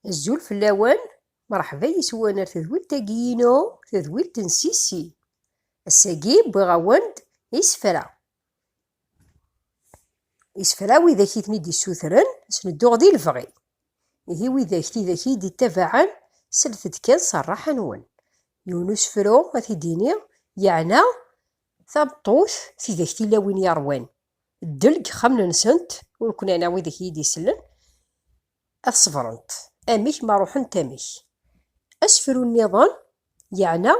Azul fell-awen, merḥba yes-wen ar tedwilt-agi-inu, tedwilt n Sissi. Ass-agi wwiɣ-awen-d isefra Isefra widak i ten-id-issutren, sen-dduɣ di lebɣi. Ihi widak tidak i yi-d-ittabaɛen, slet-d kan s rraḥa-nwen. Yiwen usefru ad t-id-ini, yeɛna tameṭṭut tidak tilawin yeṛwan ddel deg yexxamen-nsent, ur ken-ɛniɣ widak i yi-d-isellen, ad ṣebrent amek ma ruḥent amek. Asefru nniḍen yeɛna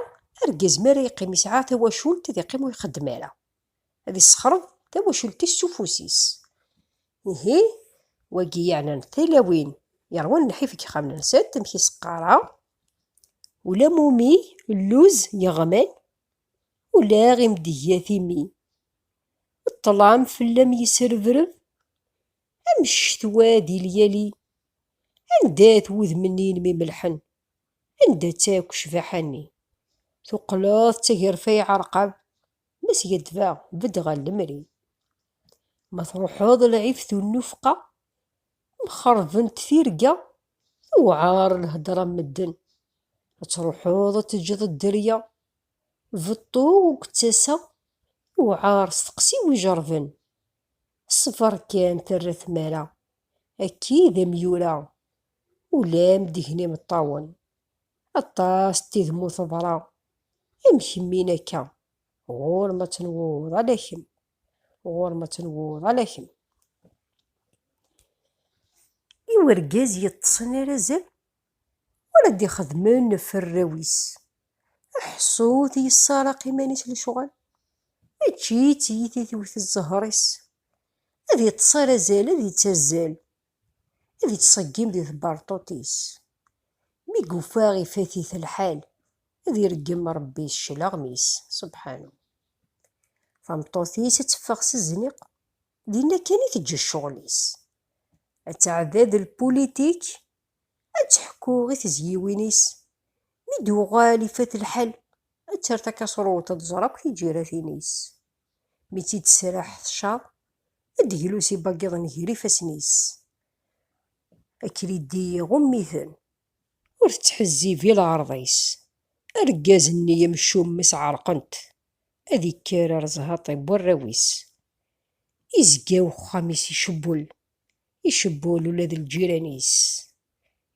argaz mi ara yeqqim yesɛa tawacult ad iqqim ur ixeddem ara, ad issexreḍ tawacult-is s ufus-is. Ihi wagi yeɛnan tilawin yeṛwan lḥif deg yexxamen-nsent amek i s-qqareɣ, ula mumi lluz yeɣman, ula imdeggat imi ṭṭlam fell-am yesrebreb, Am ccetwa di lyali. Anda-t wudem-nni n Mimelḥen? Anda-tt akk ccbaḥa-nni? Tuqleḍ d tagerfa iɛerqab ma skaddbeɣ bedd ɣer lemri. Ma truḥeḍ lɛib tunnufqa mxerbent tirga tewɛer lhedra n medden. Ad truḥeḍ ad teǧǧeḍ dderya beṭṭu ur k-ttaseɣ yewɛer steqsi wi ijerben. Ṣṣber kan terra tmara. Akki d amyura. Ulam deg-n imeṭṭawen. Aṭas n tid mu teḍra. Amek mmin akka. Ɣur-m ad tenwuḍ ala kemm. Ɣur-m ad tenwuḍ ala kemm. I urgaz yeṭṭṣen ar azal Ur ad d-ixedmen ɣef arraw-is. Aḥeṣṣut yessaraq iman-is lecɣal, mačči d tiyita tewwet zzher-is. Ad iṭṭes ar azal ad ittazzal, ad ittṣeggim di tberṭuṭ-is. Mi yufa ifat-it lḥal, ad ireggem Rebbi s cclaɣem-is, subḥanu. Tameṭṭut-is ad teffeɣ s zniq. Dinna kan i teǧǧa ccɣel-is. Ad tɛedda d lpulitik, ad teḥku i tezyiwin-is. Mi d-uɣal ifat lḥal, ad terr takaṣruwt ad tẓer akk tiǧiratin-is. Mi tt-id-tesraḥ tcaḍ, ad d-glus ibagiḍen ger ifassen-is. Akridi iɣumm-iten, Ur tettḥezzib i lɛerḍ-is. Argaz-nni amcum-is ɛerqen-t, ad ikker ar zhaṭ-i n warraw-is. Izga uxxam-is icewwel, icewwel ula d lǧiran-is,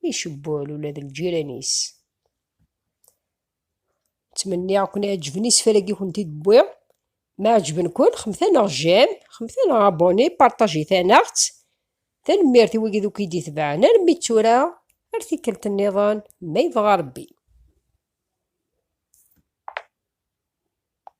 icewwel ula d lǧiran-is. ttmenniɣ ken iɛeǧben isefra-gi kunt id wwiɣ ma ɛeǧben-ken xemtaneɣ jam xemtaneɣ aboni partajitaneɣ-tt tanemmirt i wigi duki d-itebɛen armi d tura ar tikkelt nniḍen ma yebɣa rebbi